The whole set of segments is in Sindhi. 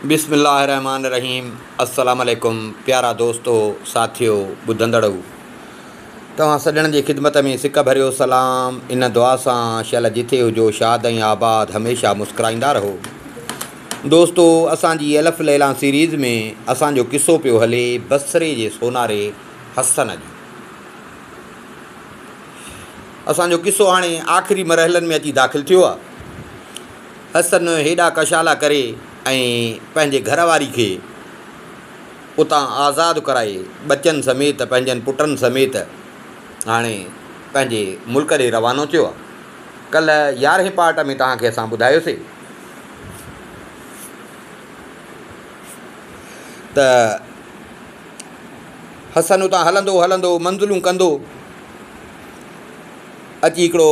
بسم الله الرحمٰن الرحيم السلام عليڪم پيارا دوستو ساٿيو ٻڌندڙو توهان سڄڻن جي خدمت ۾ سڪ ڀريو سلام ان دعا سان شل جٿي هجو شاد ۽ آباد هميشه مسڪرائيندا رهو دوستو اسان جي الف ليلان سيريز ۾ اسان جو قصو پيو هلي بصري جي سوناري حسن جو اسان جو قصو هاڻي آخري مرحلن ۾ اچي داخل ٿيو آهي حسن هيڏا ڪشالا ڪري ۽ پنهنجي گهر واري کي اتان آزاد ڪرائي ٻچن سميت پنهنجن پٽن سميت هاڻي پنهنجي ملڪ ڏي روانو ٿيو آهي. ڪلهه يارهين پارٽ ۾ توهان کي اسان ٻڌايوسي ته حسن اتان هلندو هلندو منزلون ڪندو اچي هڪڙو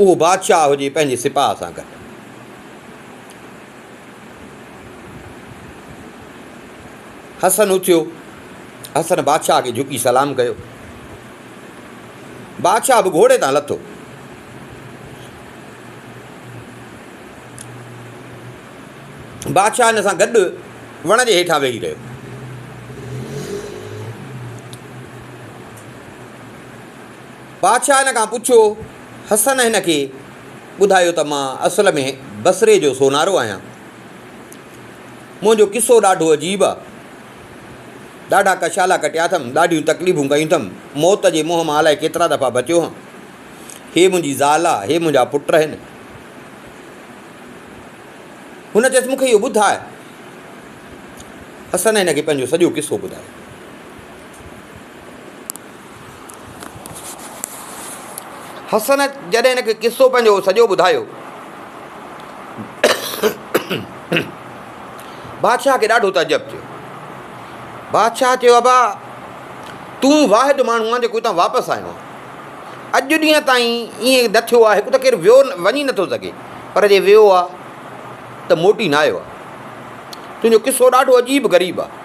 اهو بادشاهه هجي پنهنجي سپاهه سان گڏ. حسن اٿيو، حسن بادشاهه کي جهڪي سلام ڪيو. بادشاهه به گهوڙي تان لٿو. بادشاهه هن سان گڏ وڻ جي هيٺان ويهي رهيو. بادشاهه هن کان پڇيو، حسن هن کي ٻڌايو ته مان اصل ۾ بصري جو سونارو آهيان. منهنجو قصو ڏاڍو عجيب آ. ڏاڍا ڪشالا ڪٽيا اٿم، ڏاڍيون تڪليفون ڪيون اٿم، موت جي منهن مان الائي ڪيترا دفعا بچيو هان. هي منهنجي زال آ، هي منهنجا پٽ آهن. هن چيس، مون کي اهو ٻڌاء. حسن هن کي پنهنجو سڄو قصو ٻڌايو. حسن جڏهن هن کي قصو پنهنجو سڄو ٻڌايو. بادشاهه کي ڏاڍو تعجب ٿيو. بادشاهه چيو ابا تون واحد ماڻهو آهي جيڪو هتان واپس آيو آهي. اڄ ڏينهن تائين ائين نه ٿيو آهي ته ڪير ويو وڃي نٿو سگهي پر جي ويو آهي ته موٽي نه آيو آهي. تنهنجو قصو ڏاڍو عجيب غريب آهي.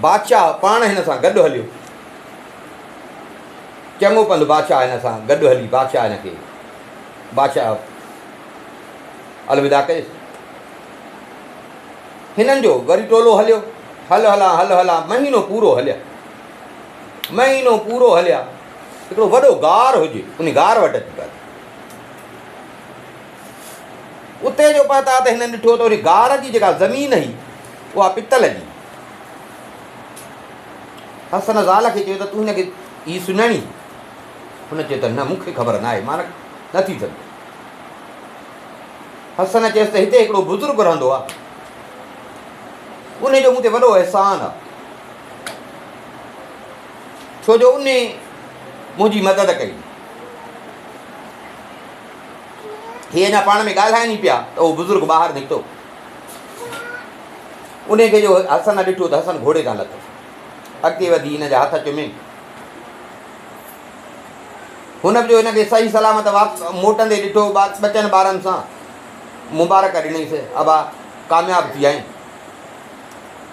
بادشاهه پاڻ هن سان گڏ هليو. چڱو پنڌ بادشاهه هن سان گڏ هلي بادشاهه هن کي بادشاهه الوداع ڪيس. هنن جو وري ٽولو هليو. هل هلان هل هلان مهينو پورو هليا مهينو پورو هليا هڪڙو وڏو غار هجي ان غار وٽ اچي پهتا. اتي جو پهتا ته هنن ڏٺو ته ان غار جي جيڪا زمين هئي اها پتل جي. حسن زال کي چيو ته تون هن کي هي سڃاڻين؟ هن چيو ته نه مون کي خبر ناهي مان نه ٿي سگهندو. حسن چيس ته هتي هڪڙو بزرگ رهندو آهي ان جو مون تي وڏو احسان آهي ڇو جو ان منهنجي مدد ڪئي. هي اڃا پاڻ ۾ ڳالهائين ئي پيا ته اهو بزرگ ٻاهر نڪتو. انهي کي جو حسن ڏٺو ته حسن گهوڙي تان لٿو. اڳتي وڌي هن جا هٿ چمي. هن به جو هن کي صحيح سلامت موٽندي ڏٺو ٻچن ٻارن سان مبارڪ ڏني سي ابا ڪامياب ٿي آئين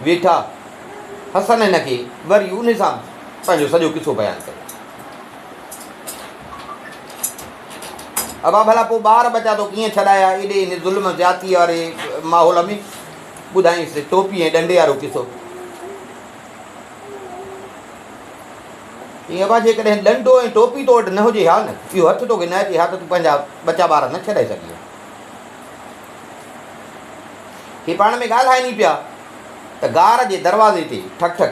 ويٺا حسن هن کي وري ان سان پنهنجو سڄو قصو بيان ڪيو ابا ڀلا پوء ٻار ٻچا تو ڪيئن ڇڏايا ايڏي هن ظلم زيادتي واري ماحول ۾ ٻڌائينس ٽوپي ۽ ڏنڊي وارو قصو ائين ابا جيڪڏهن ڏنڊو ۽ ٽوپي تو وٽ نه هجي ها نه اهو هٿ توکي نه اچي ها ته تون پنهنجا ٻچا ٻار نه ڇڏائي سگهي ها هي پاڻ ۾ ڳالهائين ئي پيا ته گار جي دروازي تي ٺڪ ٺڪ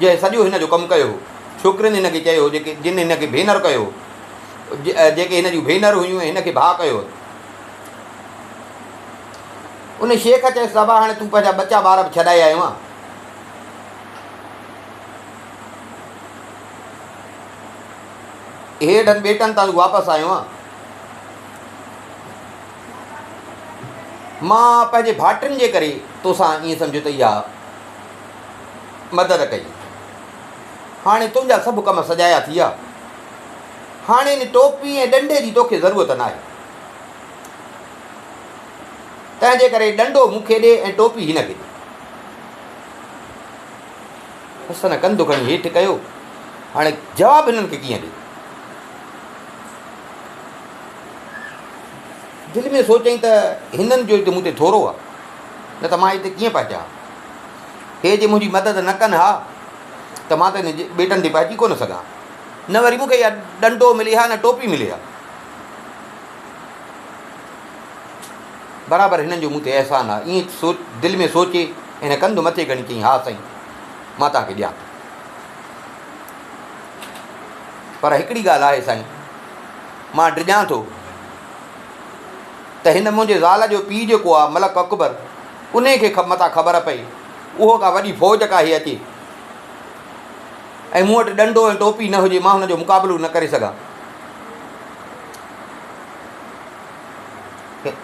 جنهن سڄو هن جو ڪم ڪيو هو. ڇوڪرين هن کي چيو هو جيڪي جن هن کي ڀينر ڪيو هو. جيڪي هن جون ڀينر هيون ۽ هن کي ڀاء ڪيو هو. ان شيخ چيس صاحبا هاڻي تون پنهنجا ٻچا ٻار به ڇڏائي آيو آهين. هيڊن ٻيٽن تان تون واپس آيو آهين. مان پنهنجي ڀائٽن جي ڪري توسان ائين سمجهيو ته اها مدد ڪئي. هاڻي تنهنجا سڀ ڪم سجايا ٿي ويا. هاڻي ان ٽوپي ۽ ڏنڊي جي توکي ضرورت ناهي. تنهنجي ڪري ڏنڊو مون کي ڏي ۽ ٽوپي هن کي ڏي. حسن ڪنڌ کڻي هيٺ ڪيو. هاڻي جواب هنن کي ڪيئن ڏي؟ دل ۾ سوچيائين ته هنن جو هت مون تي ٿورو آهي، نه ته مان هتي ڪيئن پهچان؟ هي جي منهنجي مدد نه ڪن ها ته مان ته هن جي ٻيٽن تي پهچي ڪونه سگهان ها. نه وري مون کي اها ڏنڊو ملي ها نه ٽوپي ملي ها. برابر هنن جو مون تي احسان آهي. ائين سوچ دل ۾ سوچي هن ڪنڌ مٿي کڻي چيائين ها سائين مان توهان کي ڏيان ٿو. پر هڪڙي ڳالهه آهي سائين مان ڊڄان ٿو ته هن منهنجي زال جو پيء جيڪو آهي ملڪ اڪبر انهيء کي متان خبر پئي، اهو ڪا وڏي فوج ڪاهي اچي ۽ مون وٽ ڏنڊو ۽ ٽوپي نه هجي، مان هن جو مقابلو نه ڪري سگهان.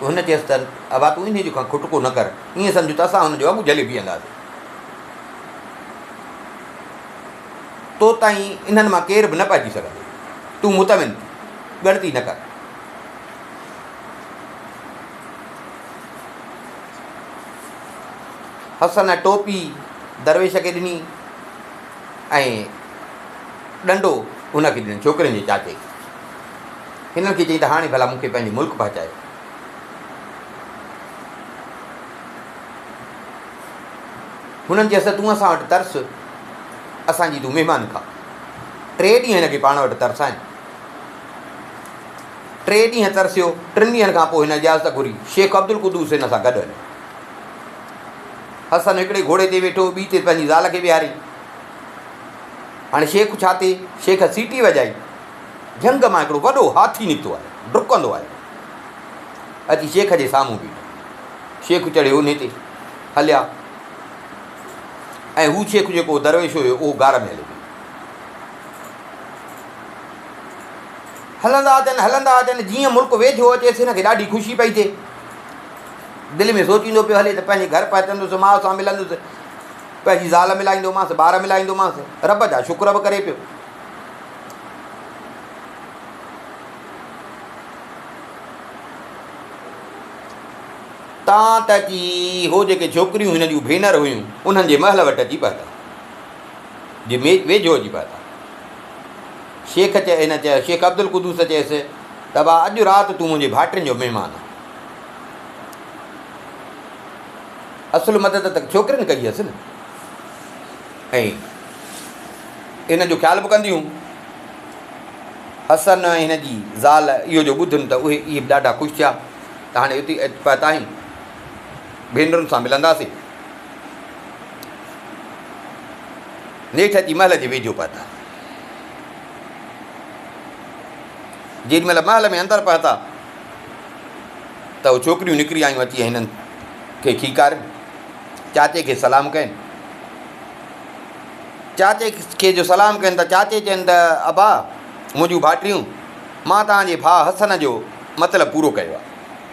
هن چيس ته، ابا تون انهيء جو ڪا کٽڪو نه ڪر، ائين سمجهه ته اسان هن جو اڳ جهلي بيهنداسين. تو تائين انهن مان ڪير به نه پهچي سگهندو. تون مطمئن ٿي، ڳڻتي نه ڪر. حسن ٽوپي درويش کي ڏني ۽ ڏنڊو ان کي ڏنو ڇوڪرين جي چاچي کي هنن کي چيائين ته هاڻي ڀلا مون کي پنهنجي ملڪ پهچايو هنن چيس ته تون اسان وٽ ترس اسانجي تون مهمان کا ٽي ڏينهن هن کي پاڻ وٽ ترسائين ٽي ڏينهن ترسيو، ٽن ڏينهن کان پوء هن اجازت گهري، شيخ عبدالقدوس هن سان گڏ هليو. حسن هڪڙي گهوڙي تي ويٺو، ٻي تي پنهنجي زال کي ويهاري. هاڻي شيخ ڇا ٿئي؟ شيخ سيٽي وڄائي، جهنگ مان هڪڙو وڏو هاٿي نڪتو آيو، ڊڪندو آيو، اچي شيخ جي سامهون بيٺو. شيخ چڙهي اونهي تي هليا ۽ هو شيخ جيڪو درويش هيو، اهو غار ۾ هليو وڃي. هلندا اچن هلندا اچن جيئن ملڪ ويجهو اچيس هن کي ڏاڍي خوشي پئي ٿئي. دل ۾ سوچيندو پيو هلي ته پنهنجي گهر پهچندس ماء سان ملندس پنهنجي زال ملائيندومانس ٻار ملائيندومانس رب جا شڪر به ڪري پيو. تان ته ڪي هو جيڪي ڇوڪريون هن جون ڀينر هيون انهن جي محل وٽ اچي پهتا جي ويجهو اچي پهتا شيخ چي هن چيو، شيخ عبدالقدوس چيس ته ابا اڄ رات تون منهنجي ڀائٽين جو مهمان آهين. اصل مدد ته ڇوڪرين ڪئي هيس نه ۽ ان جو خيال به ڪنديون. حسن ۽ هن جي زال اهو جو ٻڌن ته اهي اهي به ڏاڍا خوش ٿيا ته هاڻي اتي پهتاهين ڀينرن سان ملنداسين. نيٺ اچي محل جي ويجهو پهتا. جيڏي مهل محل ۾ اندر پهتا ته اهو ڇوڪريون نڪري آيون اچي هنن کي کيڪارين چاچي کي سلام ڪين چاچي کي جو سلام ڪين ته چاچي چين ته ابا منهنجون ڀاٽيون مان تان جي ڀاء حسن جو مطلب پورو ڪيو آهي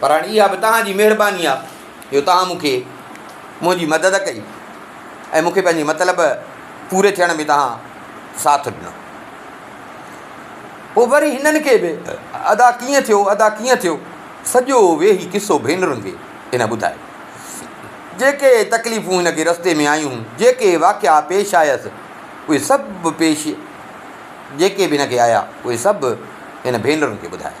پر هاڻي اها به توهان جي مهرباني آهي جو توهان مون کي منهنجي مدد ڪئي ۽ مون کي پنهنجي مطلب پوري ٿيڻ ۾ توهان ساٿ ڏنو. پوء وري هنن کي به ادا ڪيئن ٿيو، ادا ڪيئن ٿيو، سڄو ويهي قصو ڀينرن کي هن ٻڌايو. جيڪي تڪليفون هن کي رستي ۾ آيون هون، جيڪي واقعا پيش آيس، اهي سڀ پيش جيڪي به هن کي آيا، اهي سڀ هن ڀينرن کي ٻڌايا.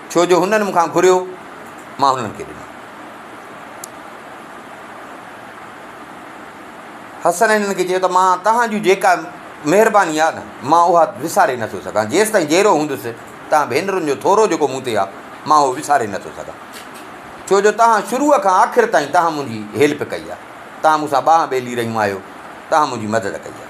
ڇو جو هنن مون کان گهريو، مان هنن کي ڏنو. حسن هنن کي چيو ته مان توهان جون جيڪا مهرباني آهي نه، مان اها وساري نه ٿو سگهان. جيستائين جيئرو هوندس، توهان ڀينرن جو ٿورو جيڪو مون تي آهي، مان اهو وساري نه ٿو سگهان. ڇو جو توهان شروع کان آخر تائين توهان منهنجي هيلپ ڪئي آهي. توهان مون سان ٻانهن ٻيلي رهيون آهيو. توهان منهنجي مدد ڪئي آهي.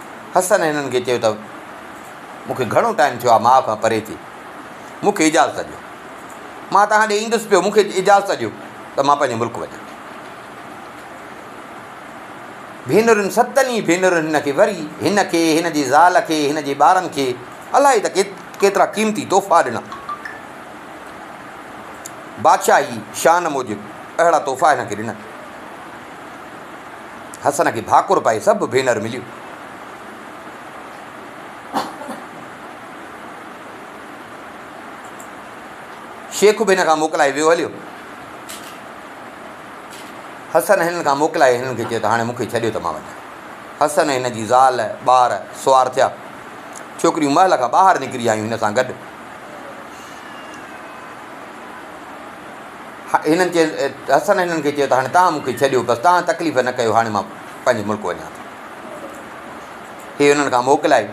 حسن هنن کي چيو ته مون کي گهڻو ٽائيم ٿيو آهي ماء کان پري ٿي، مون کي اجازت ڏيو. مان توهان ڏي ايندس پيو، مون کي اجازت ڏيو ته مان پنهنجي ملڪ وڃان. ڀينرن ستن ئي ڀينرن هن کي وري هن کي، هن جي زال کي، هن جي ٻارن کي الائي ته ڪيترا قيمتي تحفا ڏنا. بادشاهي شان موجب اهڙا تحفا هن کي ڏنن. حسن کي ڀاڪر پائي سڀ ڀينر مليون. شيخ به هن کان موڪلائي ويو هليو. حسن هنن کان موڪلائي هنن کي چيو ته هاڻي مونکي ڇڏيو ته مان وڃان. حسن هن جي زال ٻار سوار ٿيا. ڇوڪريون محل کان ٻاهر نڪري آيون هن سان گڏ. هنن چيس، حسن هنن کي چيو ته هاڻي توهان مون کي ڇڏيو بس، توهان تڪليف نه ڪيو، هاڻي مان پنهنجي ملڪ وڃان ٿو. هي هنن کان موڪلائي.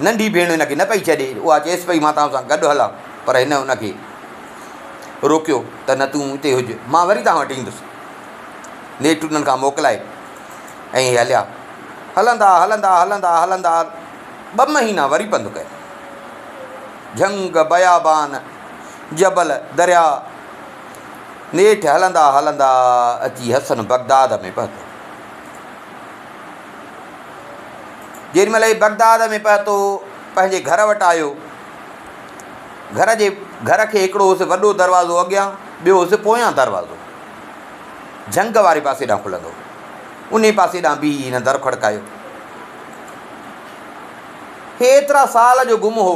ننڍي ڀيڻ هن کي نه پئي ڇڏي، اها چيس پئي مان توهان سان گڏ هلان، پر هن هن کي روڪيو ته نه تون هتي هج، مان وري توهان وٽ ايندس. نيٺ هنن کان موڪلائي ۽ هي هليا. هلندا هلندا هلندا هلندا ٻه مهينا وري پنڌ ڪيو. جهنگ، بيابان. جبل درياء نيٺ هلندا هلندا اچي حسن بغداد ۾ پهتو. جيڏي مهل هي بغداد ۾ پهتو پنهنجي گهر وٽ آيو. گهر جي گهر کي هڪڙو هوس وڏو دروازو اڳيان ٻيو هوس پويان دروازو جهنگ واري پاسي ڏانهن کلندو هو. انهي پاسي ڏانهن بيهي هن در کڙڪايو. هي ايترا سال جو گم هو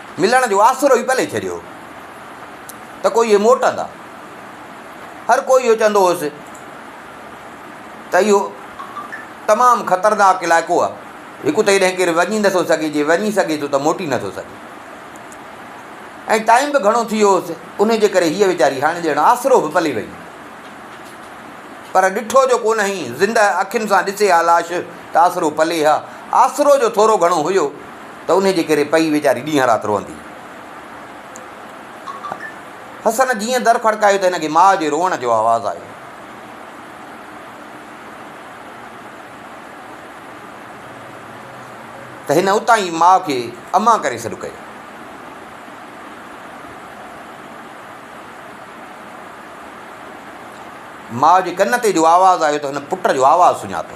ملڻ جو آسرو ئي پلي ڇڏيو هو ته ڪو اهي موٽندا. هر ڪو اهو چوندو هوس ته اهو تمام خطرناڪ علائقو آهي. هڪ ته هيڏانهن ڪير وڃي نٿو سگهي، جي وڃي سگهي ٿو ته موٽي نٿو سگهي. ۽ ٽائيم به گهڻو ٿي ويو هوس، انهي جي ڪري هيء ويچاري هاڻي ڄڻ آسرو به پلي وئي. پر ڏٺو جو ڪونهئي، زندهه اکين سان ڏسي ها لاش ته آسرو پلي ها. آسرو جو ٿورو گهڻو هيو. ته انهيء جي ڪري پئي ويچاري ڏينهن رات روئندي حسن جيئن در کڙڪايو ته هن کي ماء جي روئڻ جو آواز آيو. ته هن اتان ئي ماء کي امان ڪري سڏ ڪيو. ماء جي ڪن تي جو آواز آيو ته هن پٽ جو آواز سڃاتو.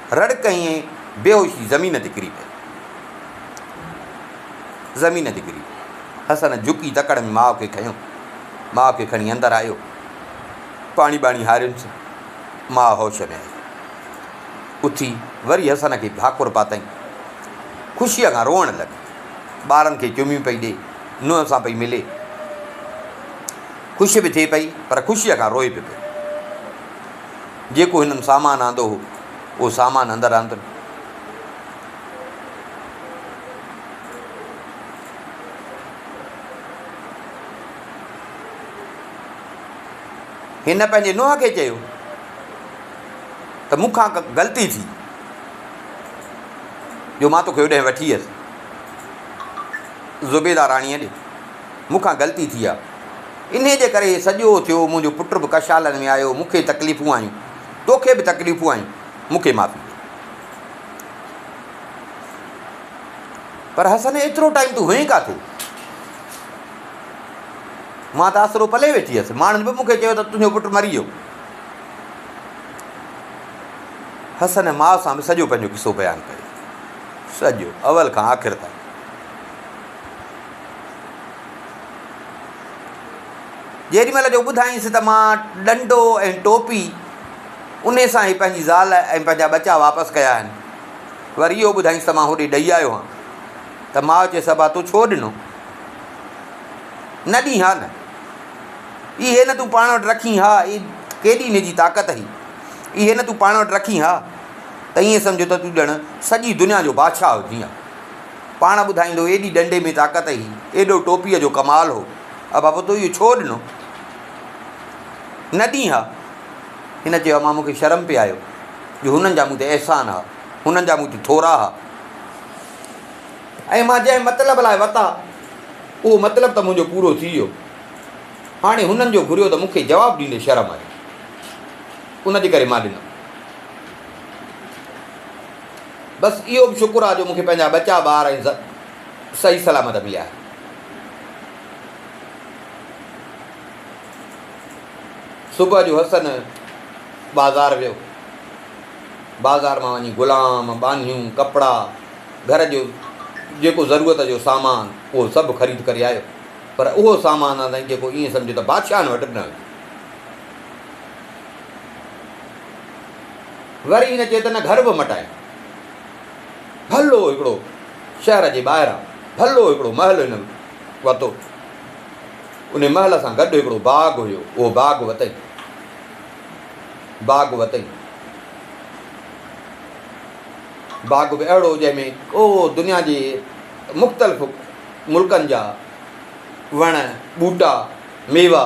رڙڪ هنئين بيهوشي زمين تي ڪري پئي. زمين تي ڪري پئي. حسن جهڪي تڪڙ ۾ ماء کي کنيو. ماء کي کڻي اندر آيو. پاڻي ٻاڻي هاريونس. ماء هوش ۾ آئي. اٿي وري حسن کي ڀاڪر پاتائين. خوشيء کان روئڻ لڳي. ٻارن کي چميون پئي ڏي. نونهن سان پئي ملي. خوش به ٿئي پئي پر خوشيء کان روئي به پئي. جيڪو هنن سامان آندو هو، اهو سامان اندر آندن. هن پنهنجي نوح کي چيو ته مون کان غلطي ٿي جو مان توکي هوڏانهن وٺي ويس زبيده راڻيء ڏي. مون کان غلطي ٿي آ. انهيء جي ڪري هي سڄو ٿيو. منهنجو پٽ به ڪشالن ۾ آيو. مون کي تڪليفون آيون. تو کي به تڪليفون آيون. مون کي معافي ڏي. پر حسن ايترو ٽائيم تون هئين ڪاٿي؟ مان ته اسرو پلي ويٺي هيس. ماڻهن به مون کي چيو ته تنهنجو پٽ مري ويو. حسن ماء سان به سڄو پنهنجو قصو بيان ڪيو. سڄو اول کان آخر تائين. جيڏي مهل جو ٻڌائينس ته مان ڏنڊو ۽ ٽوپي انهي سان ئي پنهنجي زال ۽ پنهنجا ٻچا واپس ڪيا آهن. وري اهو ٻڌائينس ته مان هوڏي ڏئي آيو هان ته ماء چيس ابا تون ڇو ڏنو نه ڏين ها نه اهي نه تون پاڻ وٽ رکين ها اي ڪيڏي ان جي طاقت هئي اهي نه تون پاڻ وٽ رکين ها ته ائين سمجهه ته تون ڄڻ سڄي دنيا جو بادشاهه هجين ها. پاڻ ٻڌائيندو ايڏي ڏنڊي ۾ طاقت هئي، ايڏو ٽوپيء جو ڪمال هو. ابا پوء تو اهو ڇو ڏنو؟ نه ڏئين ها؟ هن چيو، امان مون کي شرم پئي آيو جو هنن جا مون تي احسان ها، هنن جا مون تي ٿورا ها. ۽ مان جنهن مطلب لاء وتا، اهو مطلب ته منهنجو پورو ٿي ويو. هاڻي هنن جو گهريو ته مون کي جواب ڏيندي شرم آيو. ان جي ڪري مان ڏنم. بس اهو به شڪر آ جو مون کي پنهنجا ٻچا ٻار ۽ ز صحيح سلامت مليا آهن. صبح جو حسن بازار ويو. بازار مان وڃي غلام، ٻانهيون، ڪپڙا، گهر جو جيڪو ضرورت جو سامان اهو سڀ خريد ڪري آيو. پر اهو سامان آ سائين جيڪو ائين سمجهه ته بادشاهن وٽ به نه هيو. وري هن چيو ته نه گهر به مٽايان. ڀلو هڪڙو شهر جي ٻاهران ڀلو هڪڙو محل هن ورتو. ان محل سان گڏ هڪڙو باغ هيو، اهو باغ وتئين. باغ وتئين. باغ به اهڙو جنهن ۾ او دنيا جي مختلف ملڪن جا وڻ، ٻوٽا، ميوا